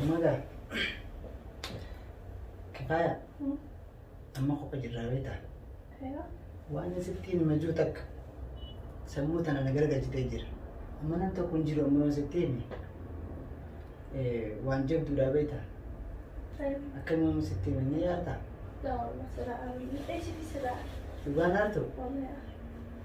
Amma gaa kifaaya amma kopha jirraa beektaa waan sitti himma jiru takka sammuu tana na gargalchitee jira amma nan tokko hin jiru amma waan sitti himi waan jabduudhaa beektaa akkamiin amma sitti himi ni yaaddaa dhugaan haartu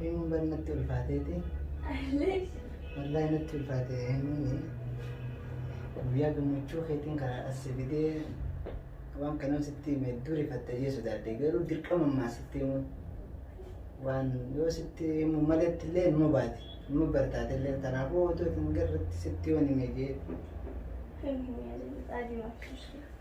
Himuun bari natti ulfaateeti. Wallaahi natti ulfaate himuun guyyaa gammachuu keetiin karaa as fidee waan kanan sitti hime duri fattayee sodaadhe garuu dirqama ammaa sitti himu waan yoo sitti himu maletti illee numa baate numa bartaate illee kanaafuu otoo hin garratti sitti waan hime jee Kan hin yaadin dhaadhima akkasii.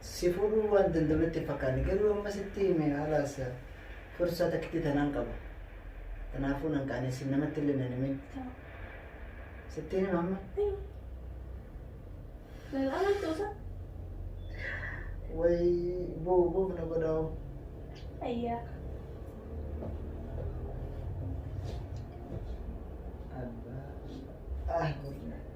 Si fuudhuu waan danda'u natti hin fakkaanne garuu amma sitti hime halaas fursaa takkitti tanaan qaba. Kanaafuu nan qaanessin namatti illee nan himin. Sitti hima amma Lal amaltu usa. way buu buuf na godhaa'u. Ayyaa. Ah,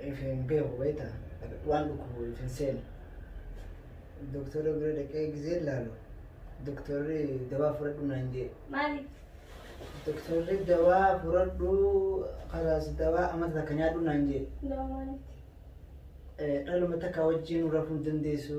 If hin beeku beekta waan dhukkubu if hin seenu. Doktora bira dhaqee gizee laalu doktorri dawaa fudhadhu naan jee. Maaliif? Doktorri dawaa fudhadhu kalaas dawaa amata takka nyaadhu naan jee. Dawaa maaliiti? Eh, Dhaluma takka wajjin rafuu hin dandeessu.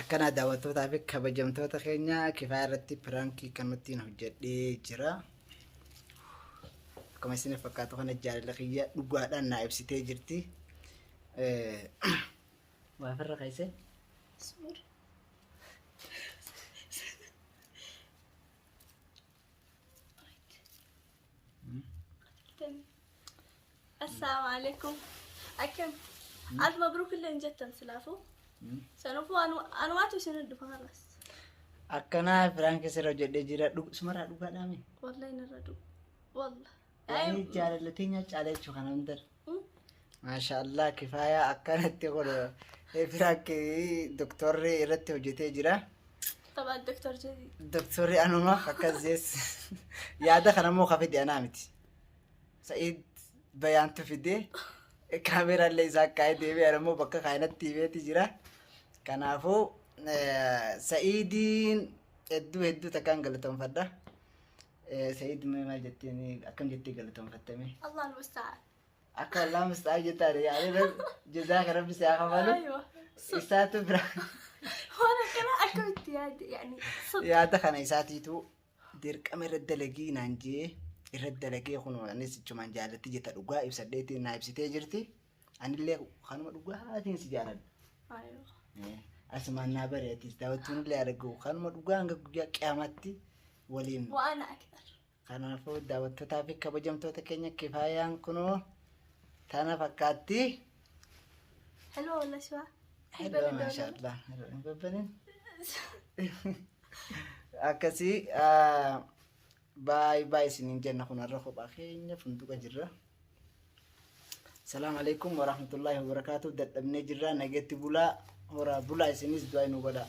Akkanaa daawwattootaa fi kabajamtoota keenya kifaa irratti piraankii kanattiin hojjedhee jira. Akkuma isin fakkaatu kana jaalala kiyya dhugaadhaan naa ibsitee jirti. Waa firra keessee? Assalamu alaikum. Akkam. Alf mabruuk illee hin jettan silaafuu. Sanufuu anumaatu isin dhufa har'as. Akkanaa firaan keessa irra hojjedhee jira. Sumarraa dhugaadhaa mee? Wallahi narra dhufu. Wallahi. Yaani jaalala teenya caalaa jechuu kana hin darbe. Maashaallah kifaayaa akkanatti kun firaakki doktorri irratti hojjetee jira. Taphaa doktor jedhi. Doktorri anuma akkas jees yaada kana immoo kan fide anaa miti. Sa'iid bayaantu fide kaameeraa illee isaa kaa'ee deebi'e ana immoo bakka kaayinatti himeeti jira. Kanaafuu eh, Sa'iidiin hedduu hedduu takkaan galateeffadha. Said mee maal jettee mee akkam jettee galatoonfatte mee? Allah al-musta'an. Akka Allah musta'aa jettaan yaa'ee jazaa kan rabbi si haa kafalu. Aywa. Isaatu bira Waan akkana akkamitti yaadde yaani sun. yaada kana isaatiitu dirqama irra dalagii naan jee irra dalagee kun anis jechumaan jaalatti jetta dhugaa ibsadheetiin naa ibsitee jirti. Anillee kanuma dhugaatiin si jaaladha. Ayoo. Eh, Asumaan naa bareetis daawwachuun illee argu kanuma dhugaa hanga guyyaa qiyamatti waliin. Waan akbar. Kanaafuu daawwattootaa fi kabajamtoota keenya kifaayaan kunoo tana fakkaatti. Hello Laswa. Hello, mashallah. Hello, hin babbanin. Akkasii ah, Baay baay isiniin jenna kun har'a kophaa keenya funtuqa jirra. Salaam alaikum warahmatullahi wabarakatuh dadhabnee jirra nageetti bulaa horaa bulaa isinis du'aa nu godhaa.